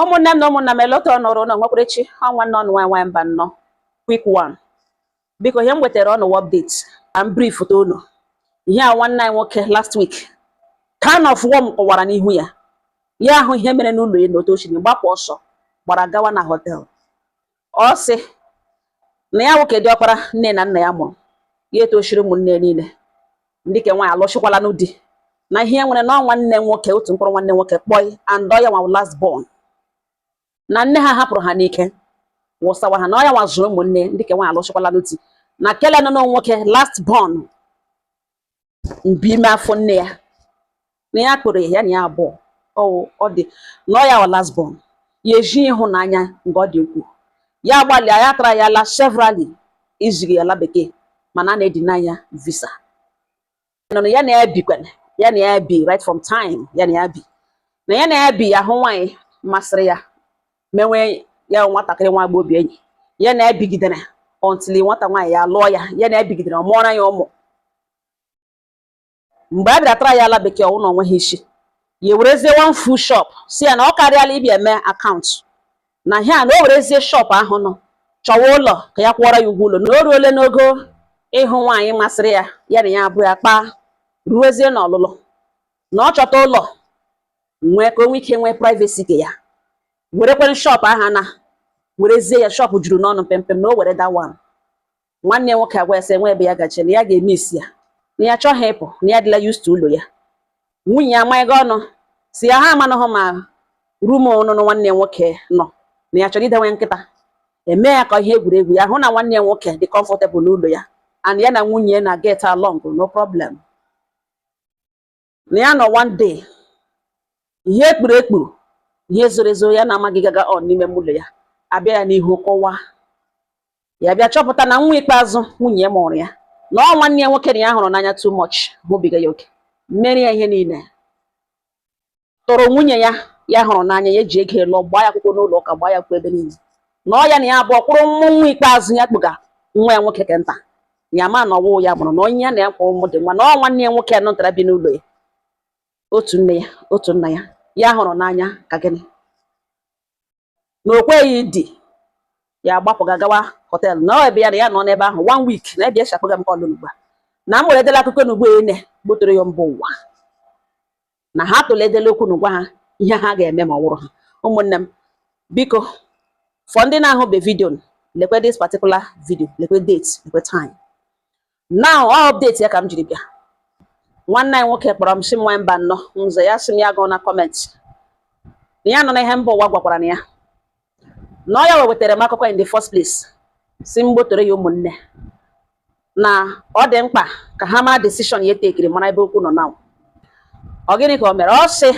ụmụnne m na ụmụnna m elota ọnụrụ ụlọ nwekwara echi ọ nwanne unu nwaanyị mba nnọ quick one biko ihe m wetara unu wụ update ka m brieftụ unu ihe a nwanne anyị nwoke last week ka a nọfụwo m kọwara n'ihu ya ya ahụ ihe mere n'ụlọ ya na otu o siri gbapụ ọsọ gbara gawa na hotel ọ sị na ya nwoke diọkpara nne na nna ya mụrụ ya etochiri ụmụnne niile ndị ke nwaanyị alụchịkwalanụ di na ihe nwere na nwanne nwoke otu mkpụrụ nwanne nwoke kpọị and ọ ya nwa last born na nne ha hapụrụ ha n'ike wụsawa ha na ọ ya nwa zụrụ ụmụnne ndị ke nwaanyị alụchịkwalanụ di na kele nọ nwoke last born mbi ime afọ nne ya na ya kpụrụ ya na ya abụọ ọwụ ọ dị na ọ ya wụ last born ya eji ịhụnanya nke ọ dị ukwuu ya agbalịa ya traịala severally iziga ya ala bekee mana a na-edeny ya visa na ọ ya na ya bikwana ya na ya bi right from time ya na ya bi na ya na ya bi ya ahụ nwaanyị masịrị ya menwe ya nwatakịrị nwa bụ obi enyi ya na ya ebigidere until nwata nwaanyị ya lụọ ya ya na ya ebigidere ọ mụọra ya ụmụ mgbe a bịara traịa ala bekee ọ wụ na o nweghị isi ya ewerezie one full shop sị ya na ọ karịala ịbịa eme akaụntụ na ihe a na o werezie shop ahụ na ọ chọwa ụlọ ka ya kwụọrọ ya ụgwọ ụlọ na o ruole n'ogo ịhụ nwaanyị masịrị ya ya na ya abụọ akparuwezie n'ọlụlụ na ọ chọta ụlọ nwee ka o nwee ike nwee privacy ke ya werekwere shop ahụ na werezie ya shop juru n'ọnụ mpempe na o were that one nwanne nwoke agwa ya sị nweghị ebe ya gaje na ya ga-eme isi ya na ya achọghị ịpụ na ya adịla used to ụlọ ya nwunye ya amaghị ọnụ sị ya ha amanụghị ma room ọnụnụ nwanne nwoke nọ na ya chọrọ idewe nkịta eme ya ka ihe egwuregwu ya ahụ na nwanne ya nwoke dị comfortable n'ụlọ ya and ya na nwunye na get along no problem na ya nọ one day ihe ekpuru ekpuru ihe zoro ezo ya na-amaghị gaga on n'ime ụlọ ya abịa ya n'ihu kọwaa ya bịa chọpụta na nwa ikpeazụ nwunye ya mụrụ ya na ọ nwanne ya nwoke na ya hụrụ n'anya too much hụbiga ya oke meere ya ihe niile tụrụ nwunye ya ya hụrụ n'anya ya ji ego lụọ gbaa ya akwụkwọ n'ụlọ ụka gbaa ya akwụkwọ ebe niile na ọ ya na ya abụọ kwụrụ mụọ nwa ikpeazụ ya kpụga nwa ya nwoke ke nta ya ma na ọ wụ ya mụrụ na onye ya na ya kwụrụ mụọdị nwa na ọ nwanne ya nwoke nụ nta a bi n'ụlọ ya otu nne ya otu nna ya ya hụrụ n'anya ka gịnị na o kweghị di ya agbapụga gawa hotel na ọ ebe ya na ya nọ n'ebe ahụ one week na ebe ya si akpọga m call n'ugbu a na m were edela akụkọ n'ugbo ene gbotere ya mba ụwa na ha tụlee edela okwu n'ụgwa ha ihe ha ga-eme ma ọ wụrụ ha ụmụnne m biko for ndị na-ahụbe video lekwe this particular video lekwe date lekwe time now ọ update ya ka m jiri bịa nwanne anyị nwoke kpọrọ m si m nwa Mbanọ m za ya sị m ya gụọ na comment na ya nọ na ihe mba ụwa gwakwara na ya na ọ ya wetara m akụkọ in the first place si m gbotoro ya ụmụnne na ọ dị mkpa ka ha maa decision ya tekiri mara ebe okwu nọ na ọ gịnị ka o mere ọ sị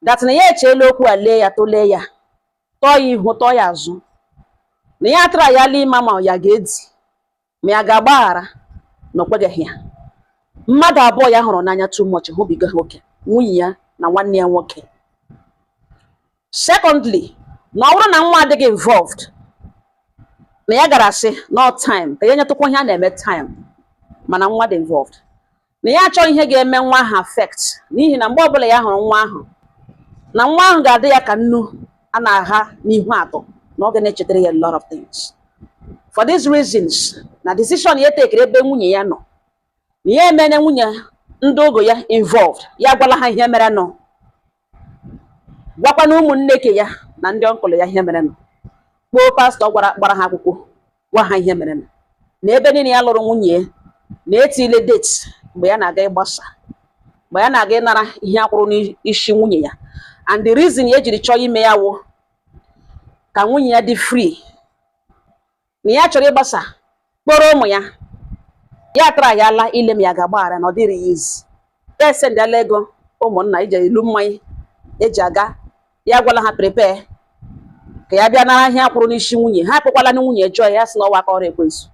that na ya echeela okwu a lee ya tụlee ya tọọ ya ihu tọọ ya azụ na ya atrayala ịma ma ya ga-edi ma ya ga-agbaghara na o kwegeghị ya mmadụ abụọ ya hụrụ n'anya too much hụbiga ha oke nwunye ya na nwanne ya nwoke secondly na ọ bụrụ na nwa adịghị involved na ya gara asị no time ka ya nyetụkwa ihe a na-eme time mana nwa dị involved na ya achọghị ihe ga-eme nwa ahụ affect n'ihi na mgbe ọbụla ya hụrụ nwa ahụ na nwa ahụ ga-adị ya ka nnu a na-agha n'ihu atọ na ọ ga na-echetara ya a lot of things for these reasons na decision ya tekere ebe nwunye ya nọ na ya emene nwunye ndị ọgọ ya involved ya gwala ha ihe mere nụ gwakwa na ụmụnne ke ya na ndị uncle ya ihe mere nụ kpọọ pastọ gbara ha akwụkwọ gwa ha ihe mere nụ na ebe niile ya lụrụ nwunye na etiile date mgbe ya na-aga ịgbasa mgbe ya na-aga ịnara ihe a kwụrụ n'isi nwunye ya and the reason ya ejiri chọọ ime ya wụ ka nwunye ya dị free na ya chọrọ ịgbasa kpọrọ ụmụ ya ya atrayala ile ma ya ga-agbaghara na ọ dịghịrị ya easy ya esendịala ego ụmụnna ije ilu mmanya eji aga ya gwala ha prepare ka ya bịa nara ihe a kwụrụ n'isi nwunye ha akpọkwala na nwunye jụọ ya sị na ọ wụ aka ọrụ ekwensu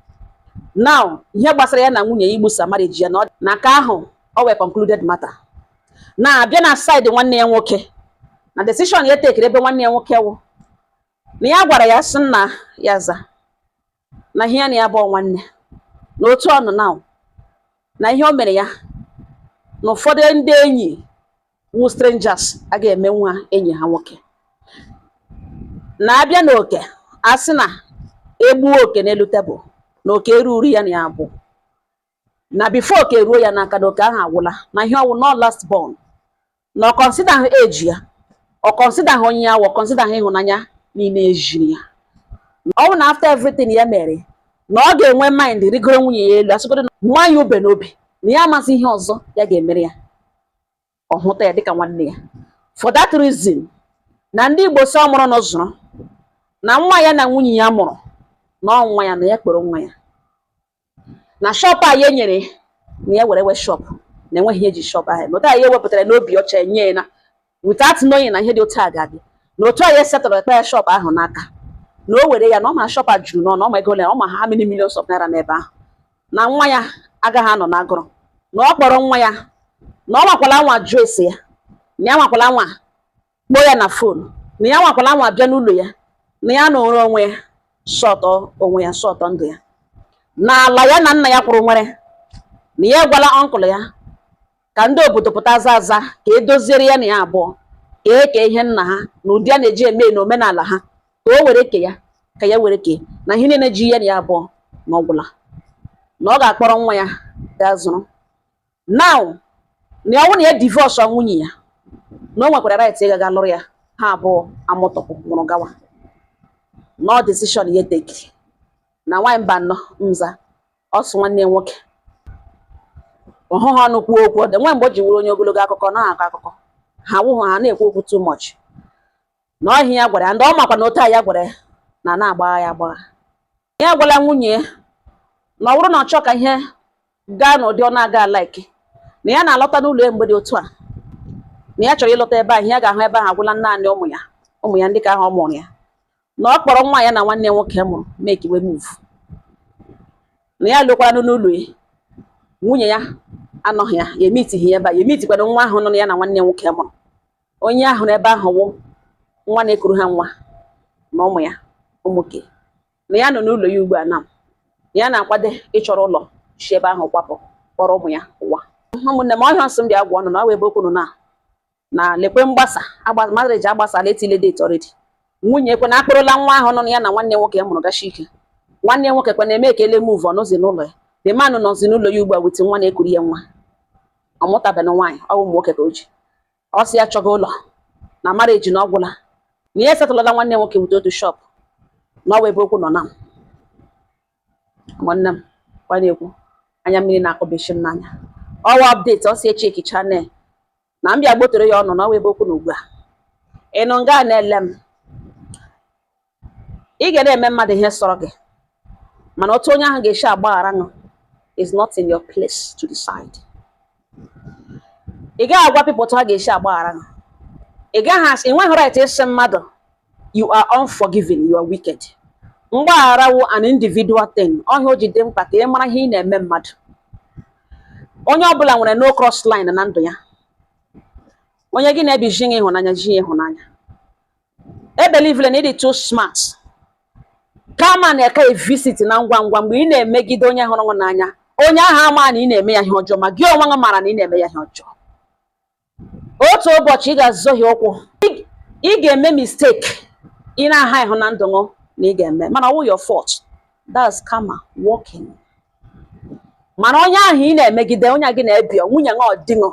now ihe gbasara ya na nwunye ya igbusa marriage ya na nke ahụ ọ wụ a concluded matter na a bịa na side nwanne ya nwoke na decision ya tekere ebe nwanne ya nwoke wụ na ya gwara ya sị nna ya za na ihe ya na ya bụ nwanne na otu ọnụ na na ihe o mere ya na ụfọdụ ndị enyi wụ strangers agaghị eme nwa enyi ha nwoke na a bịa na oke a sị na e gbuo oke n'elu tebụl na oke eruru ya na ya bụ na before oke eruo ya n'aka na oke ahụ agwụla na ihi ọ wụ nnọọ last born na ọ kọnsidaghị age ya ọ kọnsidaghị onye ya wụ kọnsidaghị ịhụnanya niile ejiri ya ọ bụ na after everything ya mere na ọ ga-enwe mind rigoro nwunye ya elu asị ọ dụwa ya ube n'obi na ya amazighị ihe ọzọ ya ga-emere ya ọ hụta ya dịka nwanne ya for that reason na ndị Igbo sị ọ mụrụ na zụrụ na nwa ya na nwunye ya mụrụ na ọ nwa ya na ya kpọrọ nwa ya na shọpụ a ya nyere na ya werewe shọpụ na enweghị ihe eji shọpụ ahụ eme otu a ya wepụtara n'obi ọcha enye ya na without knowing na ihe dị otu a ga-adị na otu a ya setụrụ ekpe ya shọpụ ahụ n'aka na o were ya na ọ ma shọpụ a juru n'ọnụ ọ ma ego ole ọ ma how many millions of naira n'ebe ahụ na nwa ya agaghị anọ n'agụrụ na ọ kpọrọ nwa ya na ọ nwakwala anwa jụọ ese ya na ya nwakwala anwa kpọọ ya na fon na ya nwakwala anwa bịa n'ụlọ ya na ya nọrọ onwe ya sọtọ onwe ya sọtọ ndụ ya na ala ya na nna ya kwụrụ nwere na ya gwala ọnkụl ya ka ndị obodo pụta aza aza ka e doziere ya na ya abụọ ka e kee ihe nna ha n'ụdị a na-eji eme n'omenala ha ka o were ke ya ka ya were ke ya na ihe niile ji ya na ya abụọ na ọ gwụla na ọ ga-akpọrọ nwa ya gaa zụrụ now na ọ wụ na ya divọsụ nwunye ya na o nwekwara right ịga ga lụrụ ya ha abụọ amụtọpụ mụrụ gawa na ọ decision ya tekiri na nwaanyị Mbanọ mza ọsụ nwanne nwoke ọhụ ha ọnụ kwuo okwu nwe mgbe o ji wụrụ onye ogologo akụkọ na-akọ akụkọ ha wụhụ ha na-ekwu okwu too much na ọ ihe a ya gwara ya and ọ makwa na otu a ya gwara ya na na-agbagha ya agbagha ya agwala nwunye ya na ọ bụrụ na ọ chọọ ka ihe gaa n'ụdị ọ na-aga alaiki na ya na-alọta n'ụlọ ya mgbe dị otu a na ya chọrọ ịlọta ebe ahụ ya ga-ahụ ebe ahụ agwụla naanị ụmụ ya ụmụ ya ndị ka ahụ ọ mụrụ ya na ọ kpọrọ nwa ya na nwanne ya nwoke mụrụ make we move na ya lọkwaranụ n'ụlọ ya nwunye ya anọghị ya ya emitighị ya ebe a ya emitikwana nwa ahụ nụ ya na nwanne ya nwoke mụrụ onye ya hụrụ ebe ahụ wụ nwa na-ekuru ha nwa na ụmụ ya ụmụ nwoke na ya nọ n'ụlọ ya ugbu a na ya na-akwado ịchọrọ ụlọ si ebe ahụ kwapụ kpọrọ ụmụ ya ụwa ụmụnne m ọ ihe a m sị m bịa gwa unu na ọ ebe okwu nọ na na lekwe mgbasa marriage agbasala etile date already nwunye ekwe na akpọrọla nwa ahụ nụ ya na nwanne nwoke mụrụ gachi ike nwanne nwoke kwe na make we move ọ nọzi n'ụlọ ya the man nọzi n'ụlọ ya ugbu a with nwa na-ekuru ya nwa ọ mụtabeghị nwaanyị ụmụ nwoke ka o ji ọ sị ya chọga ụlọ na marriage na ọ gwụla na ya esetụlala nwanne nwoke with otu shọpụ na ọ wụ ebe okwu nọ na nwanne m kwa na-ekwu anya mmiri na-akọbechi m n'anya ọ wụ ọpdeti ọ si echi eki chanel na m bịa gbotoro ya unu na ọ wụ ebe okwu nọ ugbu a ị nọ nga na-ele m ị ga na-eme mmadụ ihe sọrọ gị mana otu onye ahụ ga-esi agbaghara gị is not in your place to decide ị gaghị agwa people otu ha ga-esi agbaghara gị ị gaghị asị ị nweghị right ịsị mmadụ you are unforgiving you are wicked mgbaghara wụ an individual thing ọ ihe a o ji dị mkpa ka ị mara ihe ị na-eme mmadụ onye ọbụla nwere no cross line na ndụ ya onye gị na ya bi zi ya ịhụnanya zi ya ịhụnanya ebelivele na ị dị too smart karma na-aka evisit na ngwa ngwa mgbe ị na-emegide onye hụrụ gị n'anya onye ahụ ama na ị na-eme ya ihe ọjọọ ma gị onwe gị mara na ị na-eme ya ihe ọjọọ otu ụbọchị ị ga-azọhie ụkwụ ị ga-eme mistake ị na-aha ịhụ na ndụ gị na ị ga-eme mana ọ wụ your fault that's karma working mana onye ahụ ị na-emegide onye gị na-ebi nwunye gị or di ṅụ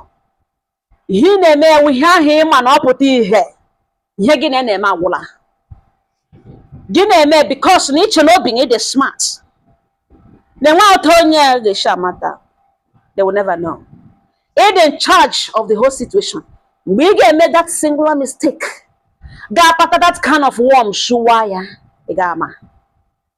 ihe ị na-eme ya wụ ihe ahụ ị ma na ọ pụta ihe ihe gị na ya na-eme agwụla gị na-eme because na i che n'obi na ị dị smart na enwe otu onye a ga-esi amata they will never know ị dị in charge of the whole situation mgbe ị ga-eme that singular mistake ga-akpata that can of worm showa ya ị ga-ama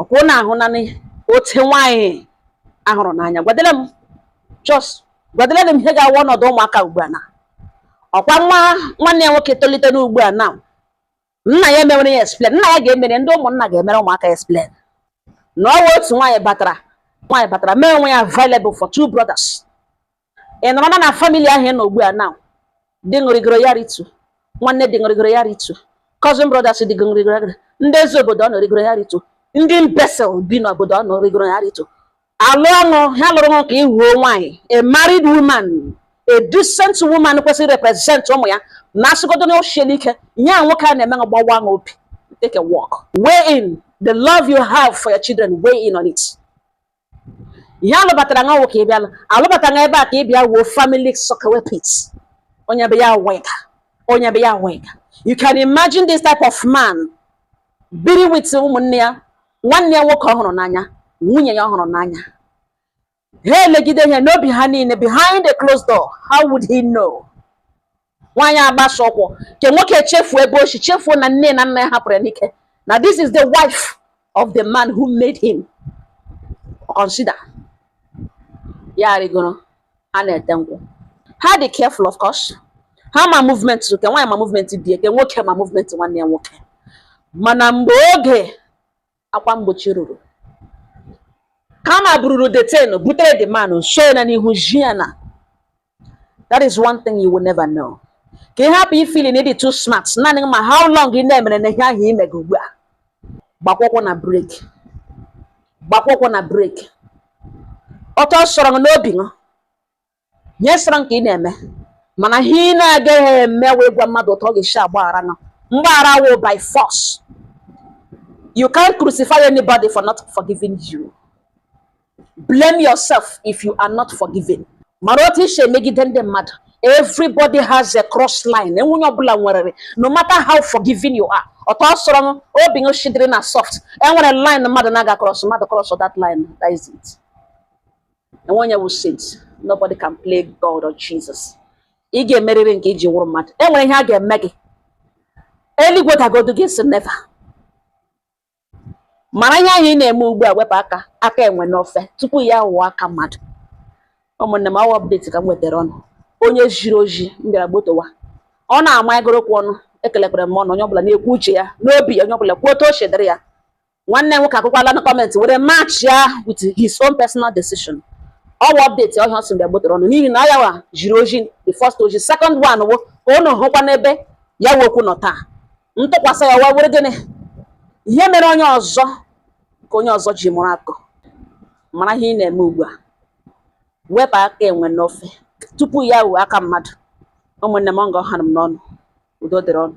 ọkwa ụnụ ahụ nanị otu nwaanyị ahụrụ n'anya gwadele m just gwadele m ihe ga-awụ ọnọdụ ụmụaka ugbu a na ọkwa nwa nwanne ya nwoke tolite n'ugbu a na nna ya emewere ya explain nna ya ga-emere ndị ụmụnna ga-emere ụmụaka explain na ọ wụ otu nwaanyị batara nwaanyị batara mee onwe ya available for two brothers ị nọrọ na na family ahụ ị nọ ugbu a na di ṅụ rịgoro ya ritu nwanne di ṅụ rịgoro ya ritu cousin brothers di ṅụ rịgoro ya ritu ndị eze obodo ụnụ rịgoro ya ritu ndị imbecile bi n'obodo ụnụ rịgoro ya ritu alụ ọ wụ ha lụrụ ṅụ ka ị wụọ nwaanyị a married woman a decent woman kwesịrị represent ụmụ ya na asịgodo na o siela ike ihe a nwoke a na-eme ṅụ gbawa ṅụ obi take a walk weigh in the love you have for your children weigh in on it ihe alụbatara ṅụ awụ ka ị bịala alụbata ṅa ebe a ka ị bịa wụọ family soakaway pit onye bịa wụga onye bịa wụga you can imagine this type of man biri with ụmụnne ya nwanne ya nwoke ọ hụrụ n'anya nwunye ya ọ hụrụ n'anya ha elegide ihe n'obi ha niile behind the closed door how would he know nwaanyị agbasa ụkwụ nke nwoke chefuo ebe o si chefuo na nne na nna ya hapụrụ ya n'ike na this is the wife of the man who made him consider ya rịgoro a na-ete nkwụ ha dị careful of course ha ma movement nke nwaanyị ma movement di ya nke nwoke ma movement nwanne ya nwoke mana mgbe oge akwa mgbochi ruru karma bururu the thing butere the man so ya na n'ihu zi ya na that is one thing you will never know ka ị hapụ ifeel na ị dị too smart naanị ma how long ị na-emere na ihe ahụ i mega ugbu a gbakwa ụkwụ na brake gbakwa ụkwụ na brake ọtọ sọrọ n'obi ṅụ ihe sọrọ nke ị na-eme mana ihe ị na-agaghị eme wụ ịgwa mmadụ otu ọ ga-esi agbaghara ṅụ mgbaghara wo by force you can't crucify anybody for not forgiving you blame yourself if you are not forgiven mara otu isi emegide ndị mmadụ everybody has a cross line enwe onye ọbụla nwere no matter how forgiving you are otu ọ sọrọ obi ṅụ shi dịrị na soft enwere line mmadụ na-aga cross mmadụ cross that line that is it enwe onye wụ saint nobody can play God or Jesus ị ga-emerịrị nke iji wụrụ mmadụ e nwere ihe a ga-eme gị eluigwe dagodu ị sị never mara ihe ị na-eme ugbu a wepụ aka aka enwe n'ofe tupu ya wụọ aka mmadụ ụmụnne m ọwa update ka m wetara ụnụ onye jiri oji m bịara gbotowa ọ na-ama egorokwu ụnụ ekelekwara m ụnụ onye ọbụla na-ekwu uche ya n'obi onye ọbụla kwuo otu o chedere ya nwanne nwoke akwụkwala na comment were match ya with his own personal decision ọwa update ọhịa ọ sị m bịa gbotoro ụnụ n'ihi na ọ ya wa jiri oji the first oji second one wo ka ọ na-ahụkwa n'ebe ya wụ okwu nọ taa ntụkwasị ya wa wụrụ gịnị ihe mere onye ọzọ ka onye ọzọ ji mụrụ akọ mara ihe ị na-eme ugbu a wepụ aka enwe n'ofe tupu ya wụọ aka mmadụ ụmụnne m ọ nga ọ ha m n'ọnụ udo dịrị ụnụ